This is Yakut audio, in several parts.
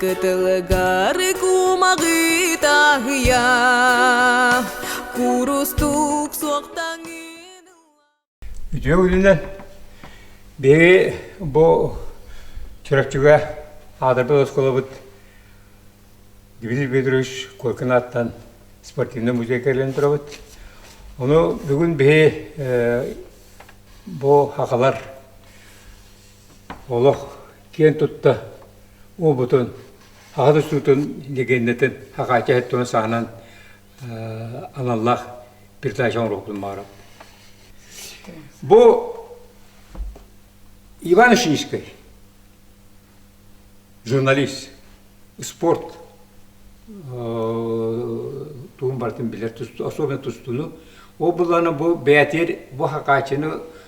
Кытылыгары кумаҕы таһыйа Курустук суохтаҥын Үтүө күнүнэн Бэйи бу Чурапчыга аадырбы осколобут Дмитрий Петрович Коркин аттан спортивный музей кэлэн турабыт. Ону бүгүн биһи бу хахалар олох киэн тутта уобутун аһа тустуутун легендэтин хакаачаһыт туна саанан аналлаах передача оҥоруохпун баҕарабын бу иван шишкой журналист спорт тугун барытын билэр особенно тустууну ол былаана бу бэйэтигэр бу хакаачыны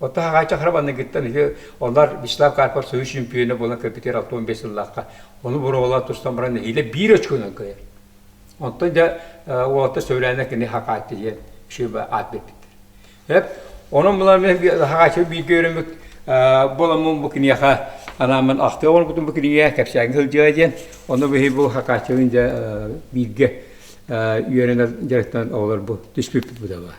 Оттон Аҕаай Чахрабанныгыттан үһү, олар Вячеслав Карпов союз чемпиона буолан көппүтэр алта уон биэс сыллаахха ону буруолаах тустан баран нэһиилэ биир очконан кыайар. Оттон дьэ уолаттар Сөүрээнэ кини хакааттыйан шиба аат бэрпиттэр. Эп онон булан мен хакааччы бииргэ өрөмүк боламмын бу киниэхэ анаамын ахтыы оҥорбутум бу кинигэ кэпсээҥҥэ сылдьыа диэн ону биһи бу хакааччыгын дьэ бииргэ үөрэнэр дьарыктан оҕолор бу түспүппүт да баар.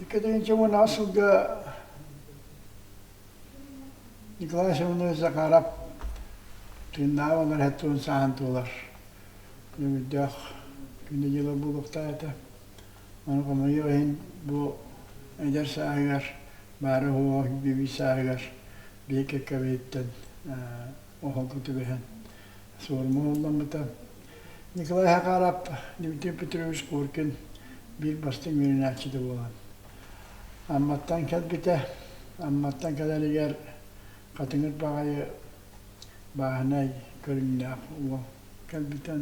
Иккитинчи сылга Николай Ильичевна Захаров тыыннааҕы олор хэттуун сааһын туолар күнүмүрдээх күнэ-дьыла буолуохтаах этэ. Ону хомойуох иһин бу эдэр сааһыгар баара-суоҕа күүбүй сааһыгар биир кэккэбиттэн оһолго түбэһэн суорума ылламмыта. Николай Хакарап, Дмитрий Петрович Коркин биир бастыҥ үөрэнээччитэ буолан Амматтан кэлбитэ. Амматтан кэлэригэр Хатыҥыр баҕайы бааһынай көрүҥнээх уол кэлбитэ.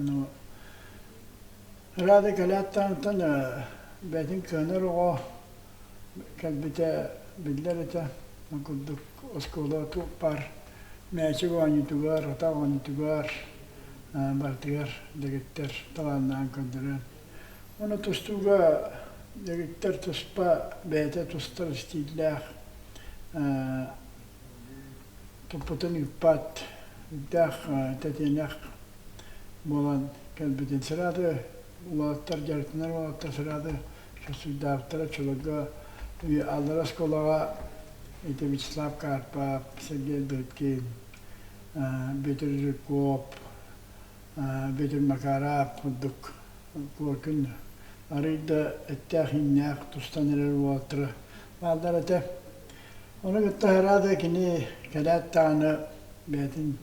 Радий Галяттан онтон бэйэтин кыанар оҕо кэлбитэ биллэр этэ. Ол курдук оскуола туппар, мээчик оонньуутугар, атах оонньуутугар барытыгар дэгиттэр талааннаан көрдөрөн. Ону тустууга дэгиттэр туспа, бэйэтэ тустар истииллээх туппутун ыыппат үрдээх тэтиэнэх буолан кэлбитин сыраады уолаттар дьарыктанар уолаттар сыраады сосуйдаабыттара чулурга аллара оскуолаҕа ити Вячеслав Карпов, Сергей Дыркин, Бүтүр Жирков, Бүтүр Макаров курдук куоркун арыйда эттээх-иҥнээх тустан эрэр уолаттара Бааллар этэ. Ону кытта аһара да кини кэлээт даҕаны бэйэтин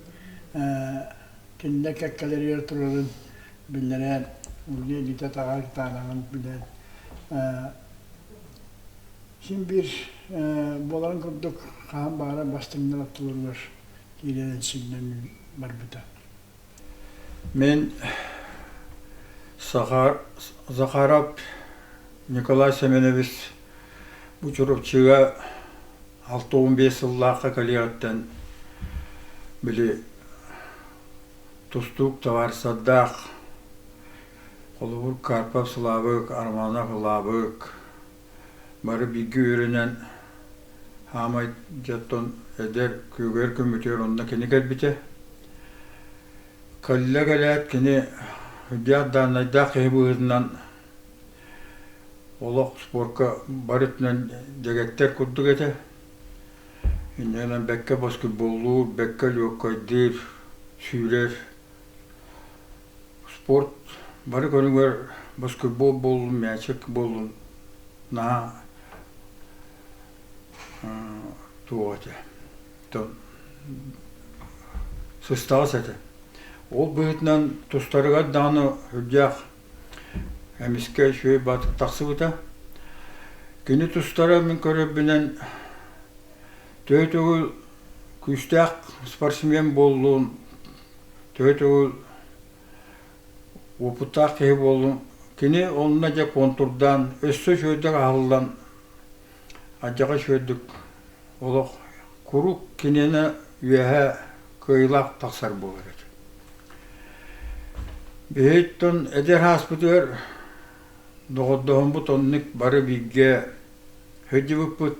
кинилэр кэккэлэригэр турарын биллэрэн, ууну илиитэ-таҕа кытаанаҕын билэн, син биир буоларын курдук хаһан баара бастыҥнар оттолоругар киирэн сиҥнэн барбыта. Мин Захаров Николай Семенович бу Чурапчыга алта уон биэс сыллаахха кэлиэҕиттэн били тустуук табаарысардаах холобур Карпов Слабык Арманов Лабык Бары бииргэ үөрэнэн хаамай дьоттон эдэр күөгэр көмүтүөр онно кини кэлбитэ. Кэллэ кэлээт кини үрдээх даанайдаах киһи быһыытынан олох спорка бары өттүнэн дэгэттэр курдук этэ. Иннэнэн бэккэ боскутболлуур, бэккэ лүөккайдыыр, сүүрэр спорт бары көрүҥэр баскетбол буоллун мячик буоллун наһаа туох этэ сыстаҕас этэ ол быһыытынан тустарыгар даҕаны үрдээх эмискэ үчүгэй баатык тахсыбыта кини тустара мин көрөрбүнэн төһө төгүл күүстээх спортсмен буоллун Төрүт уол уопуттаах киһи буоллум. Кини онно дьэ контурдаан, өссө үчүгэйдик аһыллан, алдьархай үчүгэйдик олох куруук кинини үөһэ кыайыылаах тахсар буолар этэ. Биһиттэн эдэр ааспытыгар доҕордоһоммут оннук бары бииргэ сылдьыбыппыт.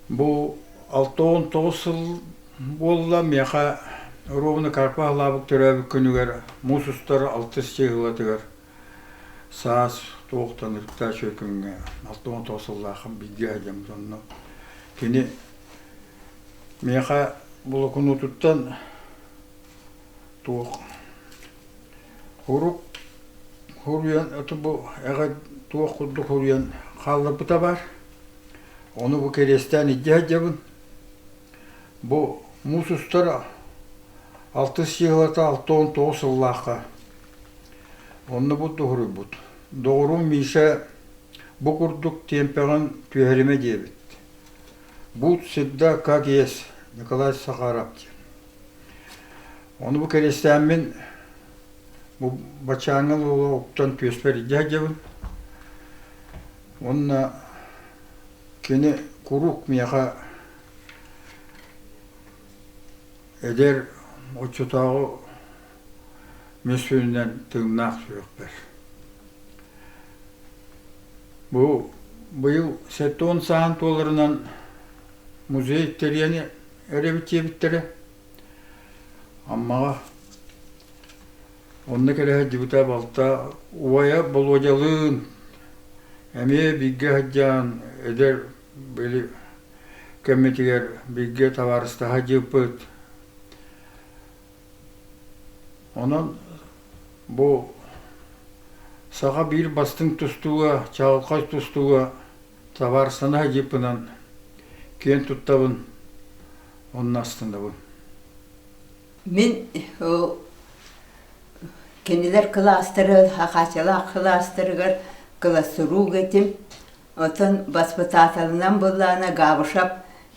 Бу алта уон тоҕус сыл буолла миэхэ ровно карпа халаабык төрөөбүт күнүгэр муус устар алтыс чыыһылатыгар саас туохтанырыктаа чөкүҥҥэ алта уон тоҕус сыллаахым бииргэ сылдьаммыт онно кини миэхэ блокунуутуттан туох Урут хуруйан оту бу эҕэ туох курдук хуруйан хаалларбыта баар. Ону бу кэриэстээн илдьэ сылдьабын. Бу муус устара алтыс сыыһалата алта уон тоҕус сыллаахха онно буддуһуруйбут. Доҕорум Миша бу курдук тиэмпэҕин түһэримэ диэбит. Бут сырда как есть Николай Сахаров диэн. Ону бу кэриэстээммин бу баччааҥҥыл уола уктан күөспэр илдьэ сылдьабын. Уонна кини куруук миэхэ эдэр оччотооҕу Мүсүнүнэн тыыннаах сүрэхпэр. Бу быйыл сэттэ уон сааһын туоларынан музей тэрийэн эрэбит диэбиттэрэ. Аммаҕа онно кэлэ сылдьыбыта балта убайа Болуодьалыын эмиэ бииргэ сылдьан эдэр били кэммитигэр бииргэ табаарыстаһа сылдьыппыт. Онон бу саха биир бастыҥ тустууга чаҕылхай тустууга Табаарыстана садьыыппынан киэн туттабын уонна астынабын. Мин кинилэр кылаастары, Хахачалаах кылаастарыгар кылассуруук этим. Оттон баспытааталынан быллаана Габышев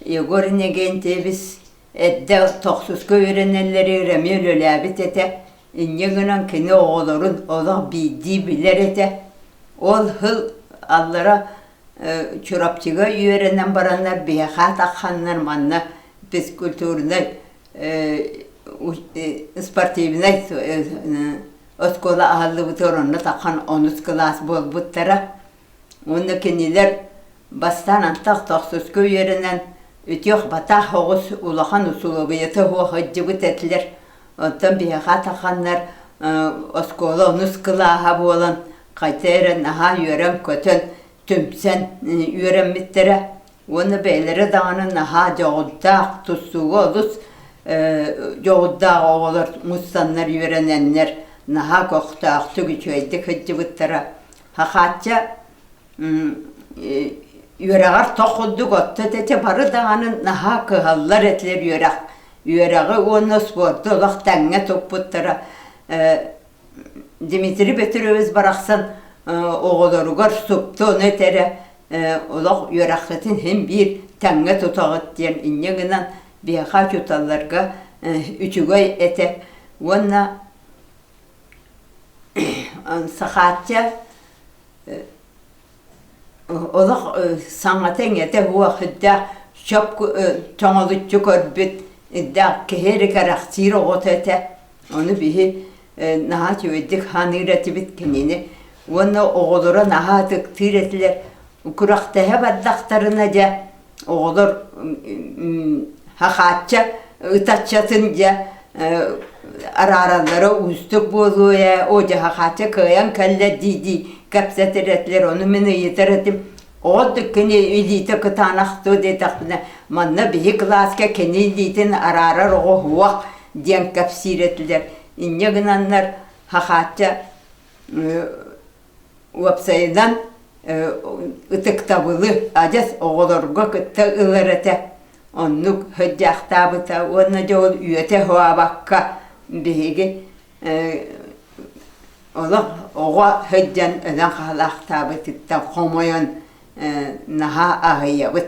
Егор Иннокентьевич Эрдэ тохсуска үөрэнэллэрэ ырыамы үлэлээбит этэ, инньэ гынан кини оҕолорун олох биирдии билэр этэ. Ол сыл аллара Чурапчыга үөрэнэн бараннар биһиэхэ атахханнар манна физкультурнай спортивнай оскуола аһыллыбыта онно тахан онус кылаас буолбуттара Уонна кинилэр бастаан антах-тохсуска үөрэнэн, үтүөх-батаах оҕус улахан усулуобуйата сылдьыбыт этилэр. Оттон биһиэхэ атахханнар оскуола онус кылааһа буолан, хайта эрэ наһаа үөрэн-көтөн, түмсэн үөрэммиттэрэ. Уонна бэйэлэрэ даҕаны наһаа дьоҕурдаах, тустууга олус дьоҕурдаах оҕолор мустаннар үөрэнэннэр, наһаа көхтөөхтүк, үчүгэйдик сылдьыбыттара. Хахаачча үөрэҕэр тох курдук отто тэтэ бары даҕаны наһаа кыһаллар этилэр үөрэх үөрэҕи уонна спорду олох тэҥҥэ туппуттара Дмитрий Петрович барахсан оҕолоругар супту ону этэрэ олох үөрэххитин һин биир тэҥҥэ тутаҕыт диэн инньэ гынан биһиэхэ учууталларга үчүгэй этэ уонна Сахаатча олох саҥата-иҥэтэ уохидда чоп тоҥолуччу көрбүт да киһи эрэ кэрэхсиир оҕото этэ ону биһи наһаа үчүгэйдик саныыр этибит кинини уонна оҕолоро наһаа ытыктыыр этилэр курэхтэһэ бардахтарына дьэ оҕолор хахаачча ытаччатын дьэ араараллара уустук буолуо ээ оо дьэ хахаачча кыайан кэллэ дии-дии кэпсэтирэтлэр ону мин ыйытар этим оҕот кини илиитэ кытаанахтуу диэтэхпинэ манна биһи кылааска кини илиитин араарар оҕо уһуох диэн кэпсиир этилэр инньэ гынаннар хахаачча Уопсайынан, ытыктабылы адьас оҕолорго кытта ылар этэ. Оннук сыдьаахтаабыта уонна дьэ ол үөтэ-хообакка биһиги олох оҕо сылдьан өлөн хаалаахтаабытыттан хомойон наһаа аһыйабыт.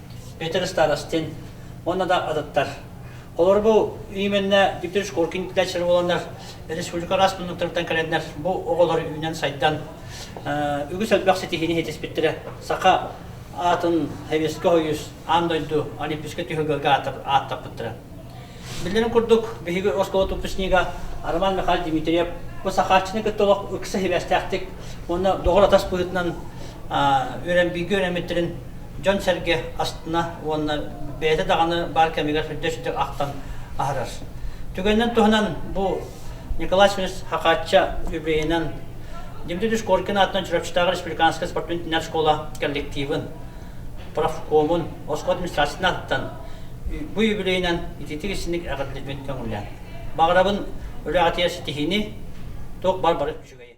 Петр Старостин уонна да атыттар. Олорбу именнэ Виктор Шкоркин плячер боланнар республика раз тунуктарыттан кэлэннэр бу оҕолор үүнэн сайдан үгүс элбэх ситиһини хитиспиттирэ саха атын хевеске хойус аан дойду олимпийскэ түһүгэрге ааттаппыттара Биллэрин курдук, биһиги оскуола выпускнига Роман Михайлович Дмитриев бу сахааччыны кытта олох ыкса сибээстээхтик уонна доҕор атас быһыытынан үөрэн бииргэ үөрэммиттэрин дьон-сэргэ астына уонна бэйэтэ даҕаны баар кэмигэр сүрдэ-сүрдэ ахтан аһарар. Түгэнинэн туһанан бу Николай Семенович Хакачча юбилейынан Дмитрий Шкоркин аатынан Чурапчытааҕы республиканскай спортивно-теннар школа коллективын, профкомун, оскуола администрациятын ааттан бу үбүлүөйүнэн ититик исиник эҕэрдэлиибин көҥүллээн. Баҕарабын үлэҕитигэр ситиһиини, туох бар бары үчүгэй.